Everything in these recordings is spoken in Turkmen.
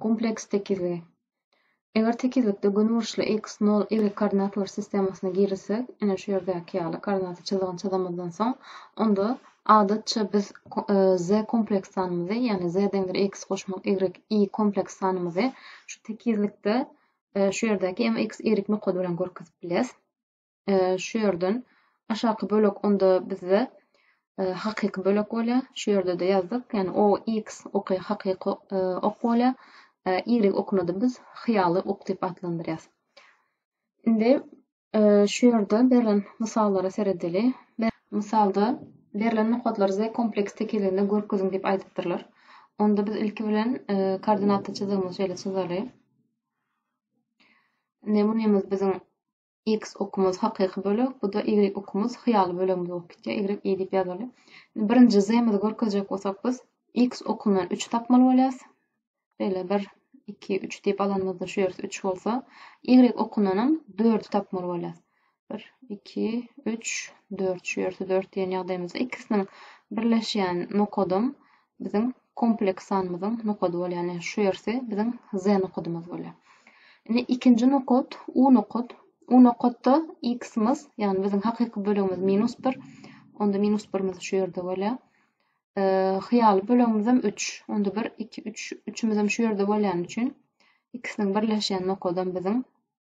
Kompleks tekizligi. Eger tekizlikde gönüburçly x, nol, y koordinatalar sistemasyna girizsek, ine şu ýerdäki ýaly koordinata çyzygyny çyzamyzdan soň, onda adatça biz z kompleks sanymyzy, ýagny z deňdir x goşmak y, y kompleks sanymyzy şu tekizlikde şu ýerdäki mx, y nokady bilen görkezip bileris. şu ýerden aşaky bölek onda bizde hakyky bölek bolýar. Şu ýerde-de ýazdyk. Ýani o x oky hakyky ok bolýar. Y okuny-da biz hyýaly ok diýip atlandyrýarys. Indi şu ýerde berlen mysallara seredeli. Mysalda berlen nokatlar Z kompleks tekizliginde görkeziň diýip aýdypdyrlar. Onda biz ilki bilen koordinata çyzygymyzy şeýle çyzaly. Nemunymyz biziň X okumyz hakyky bölek, bu-da Y okumyz hyýaly bölegimiz bolup gitýär, Y I diýip ýazaly. Birinji Z-mizi görkezjek bolsak biz X okumdan üçi tapmaly bolýas. Beýle bir, iki, üç diýip alanymyzda şu ýersi üç bolsa, Y okundan hem dördi tapmaly bolýas. Bir, iki, üç, dört, şu ýersi dört diýen ýagdaýymyzda ikisiniň birleşýän nokadam biziň kompleks sanymyzyň nokady bolýar. Ýagny şu ýersi biziň z nokadymyz bolýar. Indi ikinji nokat u nokat. U nokatda x-imiz, ýagny biziň hakyky bölegimiz minus 1. Onda minus 1-imiz şu ýerde bolýar. E, hyýaly bölegimiz hem 3. Onda 1, 2, 3. 3-imiz hem şu ýerde bolýany üçin x-niň birleşýän nokadam biziň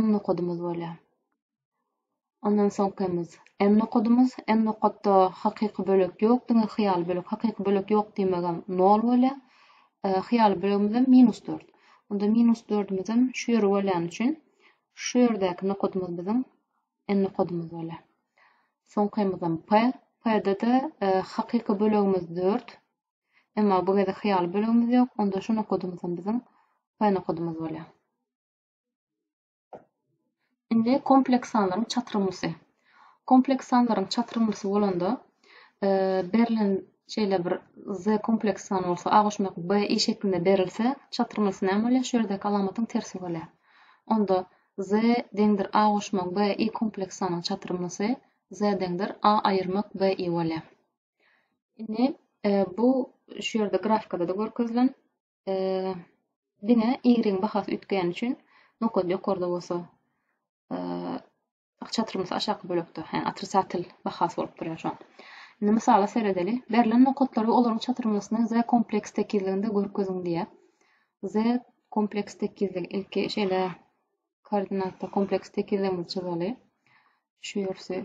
m nokadymyz bolýar. Ondan soňkymyz n nokadymyz. N nokatda hakyky bölek ýok, diňe hyýaly bölek. Hakyky bölek ýok diýmegem 0 bolýar. E, hyýaly bölegimiz hem minus 4. Onda minus 4-ümiz hem şu ýere bolýan üçin şu ýerdäki nokadymyz biziň n nokadymyz bolýar. Soňkymyz hem p. P-de-de e, hakyky bölegimiz 4. Emma bu gezek hyýaly bölegimiz ýok. Onda şu nokadymyz hem biziň p nokadymyz bolýar. Indi kompleks sanlaryň çatrymlysy. Kompleks sanlaryň çatrymlysy bolanda e, berlen şeýle bir z kompleks san bolsa a goşmak b i şeklinde berilse çatrymlysy näme bolýar? Şu ýerdäki alamatyň tersi bolýar. Onda z deňdir a goşmak b i kompleks sanyň çatrymlysy z deňdir a aýyrmak b i bolýar. Indi e, bu şu ýerde grafikada da görkezilen diňe y-yň bahasy üýtgäni üçin nokat ýokarda bolsa çatrymyz aşaky bölekde hä otrisatel bahasy bolup durýar şoň. Indi mysala seredeli. Berlen nokatlary olaryň çatrymysyny z kompleks tekizliginde görkeziň diýýär. Z kompleks tekizlik ilki şeýle koordinatda kompleks tekizligimizi çyzaly. Şu ýersi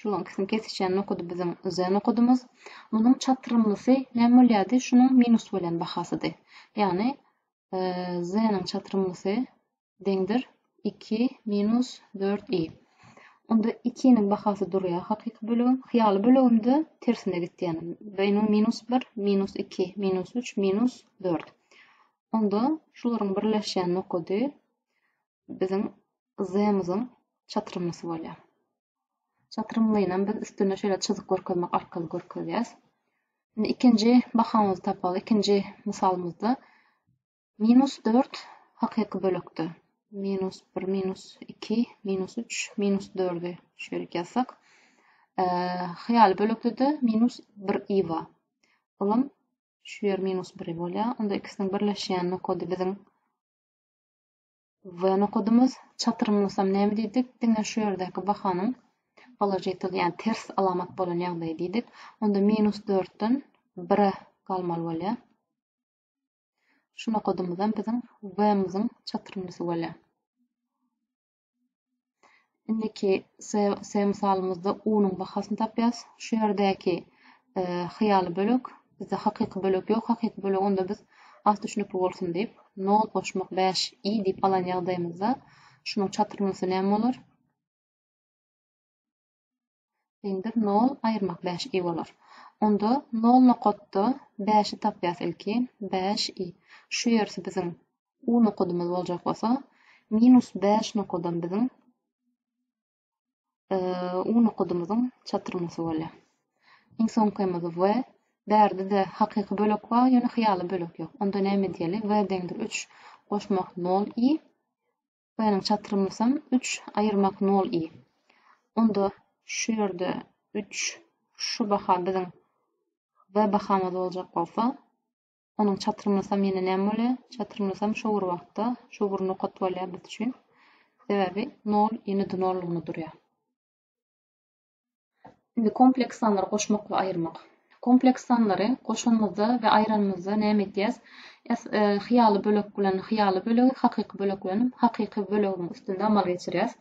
Şulaň ikisini kesişýän nokady biziň Z nokadymyz. Munuň çatrymlysy näme bolýardy? Şunuň minus bolýan bahasydy. Ýagny Z-niň çatrymlysy deňdir iki minus dört i. Onda ikiniň bahasy durýar hakyky bölegiň. Hyýaly böleginde tersine gitýän. Beýniň minus bir, minus iki, minus üç, minus dört. Onda şularyň birleşýän nokady biziň Zmz-yň çatrymlysy bolýar. Çatrymlynam biz üstünde şeýle çyzyk görkezmek arkaly görkezýäs. Indi ikinji bahamyzy tapaly. Ikinji mysalymyzda minus dört hakyky bölekde. Minus bir, minus iki, minus üç, minus dördü şeýle ýazsak. Hyýaly bölekde-de minus bir i bar. Olam şu ýer minus biri bolýar. Onda ikisiniň birleşýän nokady biziň Wwny okadymyz, çatyrymlasam näme diýdik, diňe şu ýerdäki bahanyň položitel, ýagny ters alamat bolan ýagdaýy diýdik. Onda minus dörtden bire galmaly bolýar. Şuny okadymyzam biziň wwmyzyň çatyrymlasy bolýar. Indiki se mysalymyzda unuň bahasyny tapýas. Şu ýerdäki e, hyýaly bölek, bizde hakyky bölek ýok. Hakyky bölek onda biz az düşünikli bolsun diýip, 0 goşmak 5 i diýip alan ýagdaýymyzda şunuň çatyrmalysy näme bolar? Deňdir nol aýyrmak bäş i bolar. Onda nol nokatda bäşi tapýas ilki, bäş i. Şu ýersi biziň u nokadymyz boljak bolsa, minus bäş nokadam biziň u nokadymyzyň çatyrmasy bolýar. Iň soňkymyz w. Bärde-de hakyky bölek bar, ýöne hyýaly bölek ýok. Onda näme diýeli? W deňdir üç goşmak nol i. Hytaýynyň çatrymysam üç aýyrmak nol i. Onda şu ýerde üç şu baha biziň w bahamyz boljak bolsa, onuň çatrymysam ýene näme bolýar? Çatrymysam şu bir wagtda şu bir nokat bolýar biz üçin. Sebäbi nol i-ni dnollygyna durýar. Indi kompleks sanlary goşmak we aýyrmak. Kompleks sanlary goşanymyzda we aýranymyzda näme edýäs? Ýas hyýaly bölek bilen hyýaly bölegi, hakyky bölek bilen hakyky bölegiň üstünde amal geçirýäs.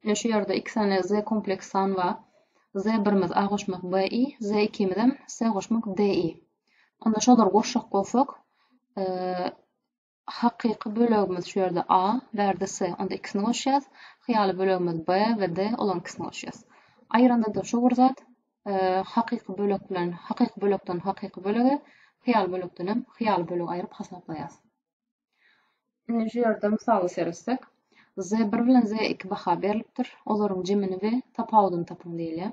Ine şu ýerde iki sany z kompleks san bar. Z birimiz a goşmak b i, z ikimiz hem s goşmak d i. Onda şolary goşjak bolsak, Hakyky bölegimiz şu ýerde A, bärde S, onda ikisini goşýas. Hyýaly bölegimiz B we D, olaryň ikisini goşýas. Aýyranda-da şu bir zat, hakyky bölek bilen hakyky bölekden hakyky bölege, hyýaly bölekden hem hyýaly bölege aýryp hasaplaýas. Indi şu ýerde mysala seretsek, Z1 bilen Z2 baha berlipdir. Olaryň jemini we tapawudyny tapyň diýilýär.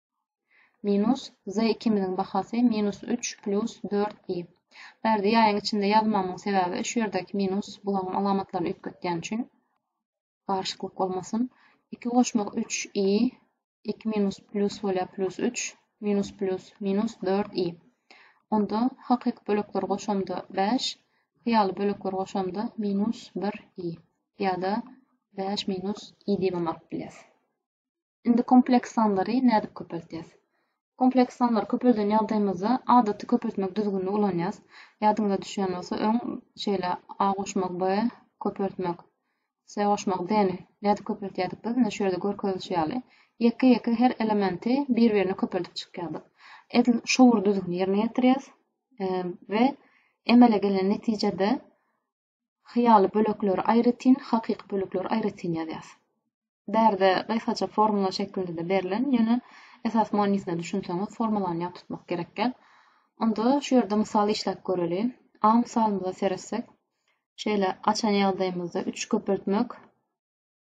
Minus z ikimiziň bahasy minus üç plus dört i. Bu ýerde ýaýyň içinde ýazmamyň sebäbi şu ýerdäki minus bularyň alamatlaryny üýtgetýän üçin garyşyklyk bolmasyn. Iki goşmak üç i, iki minus plus bolýar plus üç, minus plus minus dört i. Onda hakyky bölekleri goşamda bäş, hyýaly bölekleri goşamda minus bir i ýa-da bäş minus i diýibem alyp bilýäris. Indi kompleks sanlary nädip köpeltýäs? Kompleks sanlary köpelden ýagdaýymyzda adaty köpeltmek düzgünini ulanýas. Ýadyňyza düşýän bolsa öň şeýle A goşmak B, köpeltmek C goşmak D-ni nädip köpeltýärdik biz? Ine şu ýerde görkezilişi ýaly. Ýeke-ýeke her elementi bir-birine köpeldip çykýardyk. Edil şo bir düzgüni ýerine ýetirýäs we emele gelen netijede Hyýaly bölekleri aýratyn, hakyky bölekleri aýratyn ýazýas. Bärde gysgaça formula şeklinde-de berlen, ýöne esas manysyna düşünseňiz, formulany ýat tutmak gerek gel. Onda şu ýerde mysal işläp göreli. A mysalymyza seretsek, şeýle açan ýagdaýymyzda üç köpeltmek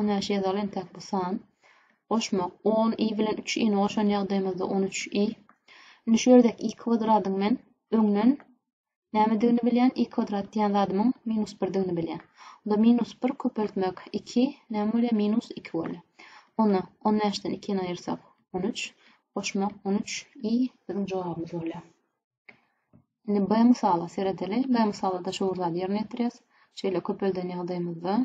On bäş ýazaly entek bu san. Goşmak. On i bilen üç ini goşan ýagdaýymyzda on üç i. Indi şu ýerdäki i kwadradyň men öňden nämedigini bilýän, i kwadrat diýen zadymyň minus birdigini bilýän. Onda minus bir köpeltmek iki näme bolýar? Minus iki bolýar. Onda on bäşden ikini aýyrsak on üç, goşmak on üç i biziň jogabymyz bolýar. Indi B mysala seredeli. B mysalda şu bir zady ýerine ýetirýäs. Şeýle köpelden ýagdaýymyzda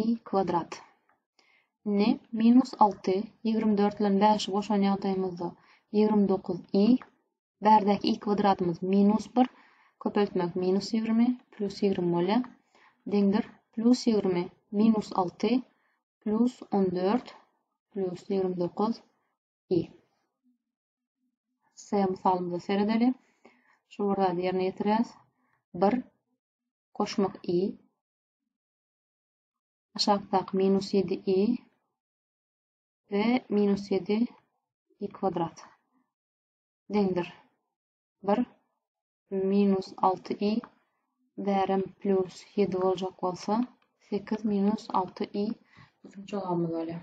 i kwadrat. Indi minus alty ýigrimi dört bilen bäşi goşan ýagdaýymyzda ýigrimi dokuz i. Bärdäki i kwadratymyz minus bir köpeltmek minus ýigrimi plus ýigrimi bolýar. Deňdir plus ýigrimi minus alty plus on dört plus ýigrimi dokuz i. S mysalymyza seredeli. Şu bir zady ýerine ýetirýäs. Bir koşmak i aşakdaky minus ýedi i we minus ýedi i kwadrat deňdir bir minus alty i bärem plus ýedi boljak bolsa sekiz minus alty i biziň jogabymyz bolýar